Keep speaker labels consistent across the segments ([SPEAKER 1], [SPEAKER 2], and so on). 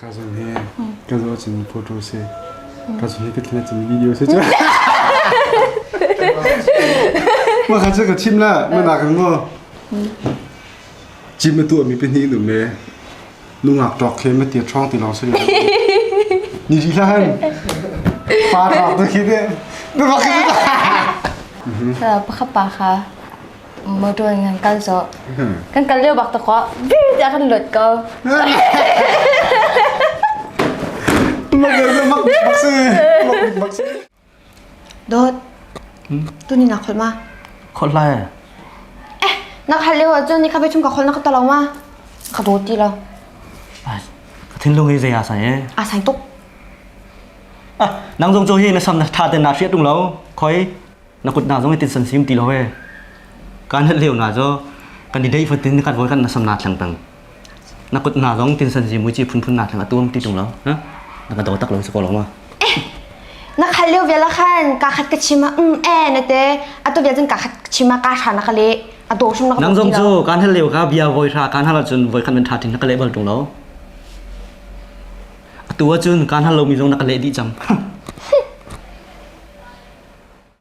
[SPEAKER 1] Kha zong hi ka zaw cun photo si. Ka zong hi ka thina cun video si cu. Ma kha cu ka chim la, ma nak ring mo. Chim ma tu mi pe ni dum le. Nungak ṭawk khi mete ṭhawng ti lawng si lo. Ni si hlan. Pa ṭawk tu khi de. Nungak khi de. Kha pakhat pa kha motor ngan kal zo. Kan kal leo bak ta ko. Bi ta kan lut ko. Mak mak si. Mak mak si. Dawt, tuni na kholh ma? Kholh lai. Eh, na khalh lio ahcun ni kha biachung ka kholh na ka to lo ma? Ka dawt ti lo. Ka thinlung hi zei asai e? Asai tuk. Ah, nang zong cu hi na sam na tha ten na hriat tung lo. Khoi, na kut na zong hi tin san sim ti lo e. Kan hal leo na zo, kan i dei fatin kan vol kan na sam na tlang tang. Na kut hna zong tinsan zi muici phunphun na thang a tum ti tung lo. Na ka daw tak lo si ko lo ma. Na khat leo vela khan ka khat ka chima mm eh na te atu via cun ka khat chima ka sha na ka le a do shum na ka nang zong cu kan hal leo ka bia voi sha kan hal cun voi khan men tha thin na ka le bal tung lo. Atu cun kan hal lo mi zong na ka le di chang.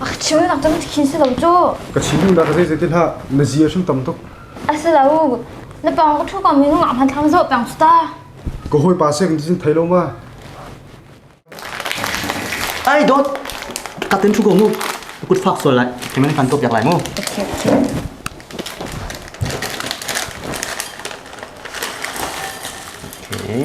[SPEAKER 1] A cheu nak tam khin si lo cu. Ka chim duh nak zei zei ti hlah na zia hrim tam tuk. A si lo. Na pang ka thu kam minung ah hman thlang zo pang cu ta. Ka hoi pa sek ni thei lo ma. ai dot katin thu ko mu kut fak sol lai kemen kan top yak lai mu Okay, okay. okay